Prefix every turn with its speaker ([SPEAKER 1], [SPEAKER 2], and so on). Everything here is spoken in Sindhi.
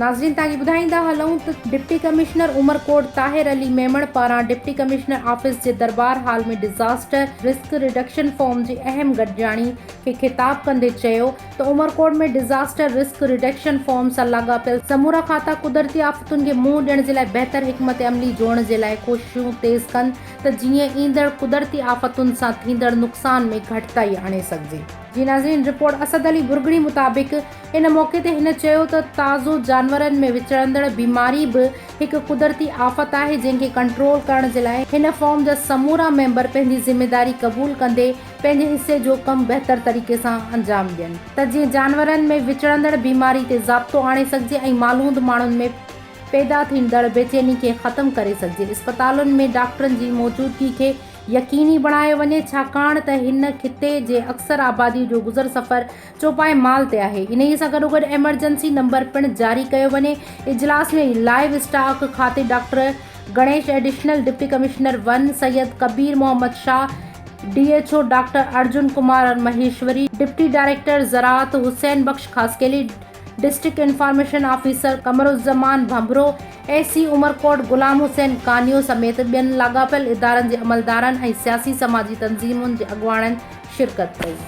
[SPEAKER 1] ناظرين توهان کي ٻڌائيندا هلون ته ڊپٽي ڪمشنر عمرڪوٽ طاهر علي ميمڻ پاران ڊپٽي ڪمشنر آفيس جي دربار hall ۾ disaster risk reduction forum جي اهم گڏجاڻي کي خطاب ڪندي چيو ته Umerkot ۾ disaster risk reduction forum سان لاڳاپيل سمورا کاتا قدرتي آفتن کي منهن ڏيڻ جي لاء بهتر حڪمت عملي جوڙڻ جي لاء ڪوششون تيز ڪن ته جيئن ايندڙ قدرتي آفتن سان ٿيندڙ نقصان ۾ گهٽتائي آڻي سگهجي. جي ناظرين رپورٽ اسد علي ڀرڳڙي مطابق ان موقعي تي هن چيو ته تازو جانورن ۾ وچڙندڙ بيماري به هڪ قدرتي آفت آهي جنهن کي ڪنٽرول ڪرڻ جي لاء هن فارم جا سمورا ميمبر پنهنجي ذميداري قبول ڪندي پنهنجي حصي جو ڪم بهتر طريقي سان انجام ڏين ته جيئن جانورن ۾ وچڙندڙ بيماري تي ضابطو آڻي سگهجي ۽ مالوند ماڻهن ۾ پيدا ٿيندڙ بيچيني کي ختم ڪري سگهجي، اسپتالن ۾ ڊاڪٽرن جي موجودگي کي يقيني بڻايو وڃي ڇاڪاڻ ته هن خطي جي اڪثر آبادي جو گذر سفر چوپائي مال تي آهي، انهي سان گڏوگڏ ايمرجنسي نمبر پڻ جاري ڪيو وڃي، اجلاس ۾ لائيو اسٽاڪ کاتي doctor Ganesh, additional deputy commissioner one Syed Kabir Muhammad Shah, D H O doctor Arjun Kumar Maheshwari, deputy director زراعت Hussain Bux Khaskheli, district information officer Qamaruzzaman Bhanbhro, A C Umerkot Ghulam Hussain Kanio سميت ٻين لاڳاپيل ادارن جي عملدارن ۽ سياسي سماجي تنظيمن جي اڳواڻن شرڪت ڪئي.